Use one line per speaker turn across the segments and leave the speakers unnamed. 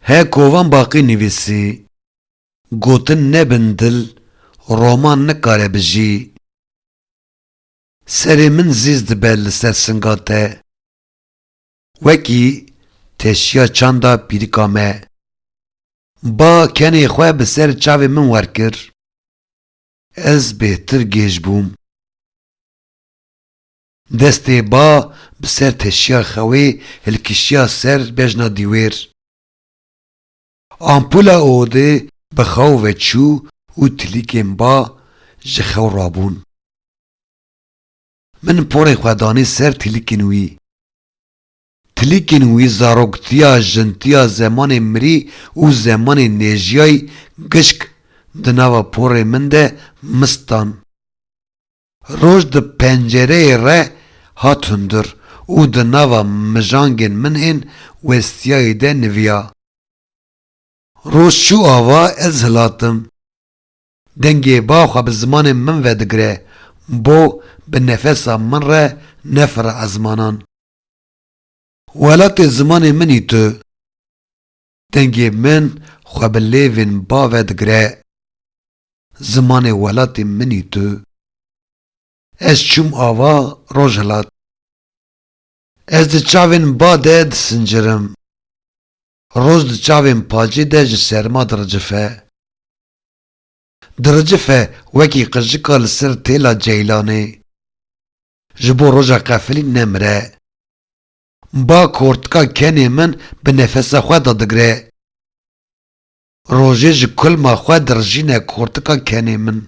He kovan baqî nivîsî. Gotin nebin dil roman nikare bijî. Serê min zîz dibe li ser singa te. Wekî teşiya çanda pîrika me. Ba kenê xwe bi ser çavê min werkir. Ez bêhtir gêj bûm. Destê ba bi ser teşiya xewê hilkişiya ser bejna dîwêr. Ampula odê bi xew ve çû û tilîkên ba ji xew rabûn. Min porê xwe danî ser tilîkên wî. Tilîkên wî zaroktiya, jintiya, zemanê mirî û zemanê nêjiyayî gişk di nava porê min de mist dan. Roj di pencereyê re hat hundir û di nava mijangên min ên westiyayî de niviya. Roj çû ava ez hilatim. Dengê ba xwe bi zimanê min ve digire, bo bi nefesa min re nefira ezmanan. Welatê zimanê min î tu. Dengê min xwe bi lêvên bave digire. Zimanê welatê min î tu. Ez çûm ava Rojhilat. Ez di çavên ba de disincirim. Roj di çavên pacê de ji serma diricife. Diricife wekî qijika li ser têla ceylanê. Ji bo roja qefilî nemire. Ba kortika kenê min bi nefesa xwe de digre. Rojê ji kulma xwe dirijîne kortika kenê min.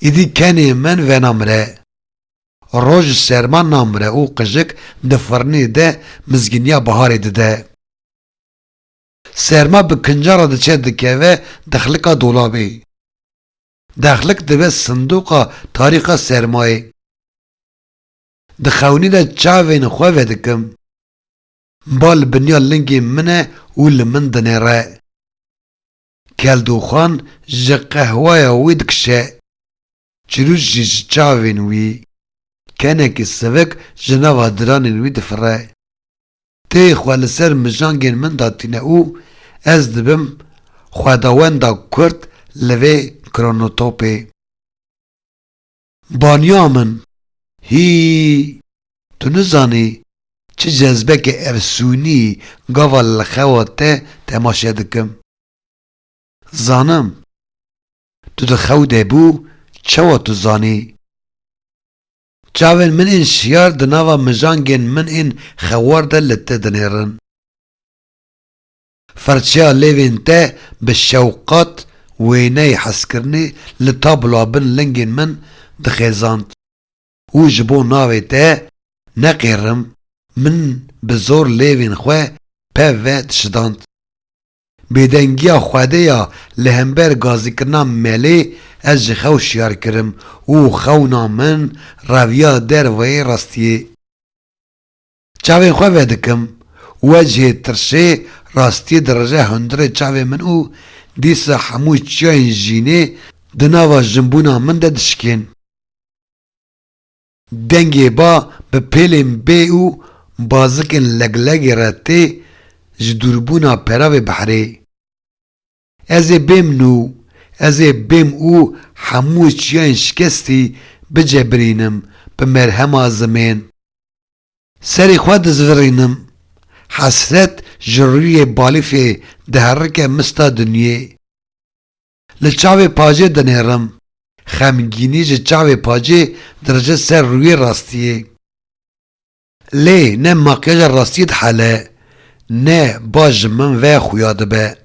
Îdî kenê min venamire. Roj ji serma namire û qijik di firnê de mizgîniya biharê dide. Serma bi kinca re diçe dikeve dexlika dolabê. Dexlik dibe sindoqa tarîxa sermayê. Di xewnî de çavên xwe vedikim. Mba li binya lingê min e û li min dinêre. Keldoxan ji qehweya wê dikişe. Çirûç jî ji çavên wî. Kenekî sivik ji nava diranên wî difire. Têyê xwe li ser mijangên min de tîne û ez dibim xwedawenda kurt li vê kronotopê. Baniya min, hîî! Tu nizanî çi cezbeke efsûnî gava li xewa te temaşe dikim. Zanim. Tu di xew de bû çawa tu zanî? Çavên min ên şiyar di nava mijangên min ên xewar de li te dinêrin. Firçeya lêvên te bi şewqat wêneyê hezkirinê li tabloa bin lingên min dixêzand û ji bo navê te neqêrim min bi zor lêvên xwe pev ve dişidand. Bêdengiya Xwedê ya li hember gazîkirina melê ez ji xew şiyar kirim û xewna min reviya derveyê rastiyê. Çavên xwe vedikim, wecê, tirşê, rastiyê dirije hundirê çavên min û dîsa hemû çiyayên jînê di nava jinbûna min de dişikên. Dengê ba bi pêlên bê û bazikên leglegê re tê, ji dûrbûna peravê biherê. Ez ê bêm nû, ez ê bêm û hemû çiyayên şikestî bicebirînim bi merhema zimên. Serê xwe dizvirînim. Hesret ji rûyê balîfê diherike mista dinyê. Li çavê pajê dinêrim. Xemgînî ji çavê pajê dirije ser rûyê rastiyê. Lê ne makyaja rastiyê dihele, ne ba ji min ve xuya dibe.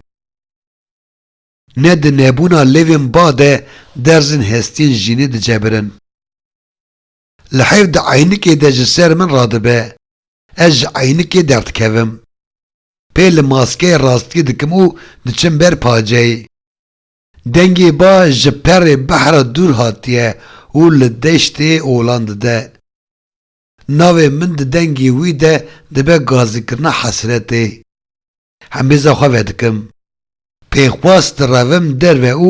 Ne di nebûna lêvên ba de derzên hestiyên jînê dicebirin. Li heyv di eynikê de ji ser min radibe, ez ji eynikê derdikevim. Pê li maskeyê rastiyê dikim û diçim ber paceyê. Dengê ba ji perê behra dûr hatiye û li deştê olan dide. Navê min di dengê wî de dibe gazikirina hesretê. Hembêza xwe vedikim. Pêxwas direvim derve û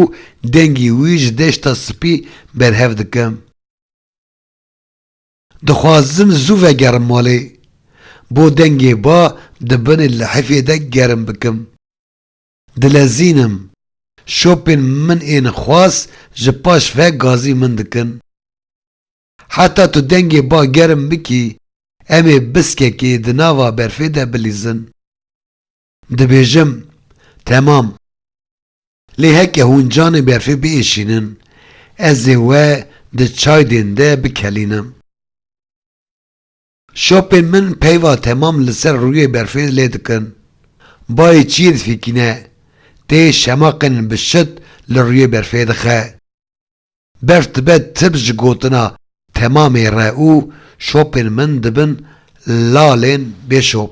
dengê wî ji deşta spî berhev dikim. Dixwazim zû vegerim malê. Bo dengê ba di binê lihifê de germ bikim. Dilezînim. Şopên min ên xwas ji paş ve gazî min dikin. Heta tu dengê ba germ bikî, em ê biskekê di nava berfê de bilîzin. Dibêjim, Temam. Lê heke hûn canê berfê biêşînin, ez ê we di çaydên de bikelînim. Şopên min peyva temam li ser rûyê berfê lê dikin. Bayê çiyê difîkîne, tê şemaqên bi şit li rûyê berfê dixe. Beş dibe tibz ji gotina temamê re û şopên min dibin lalên bê şop.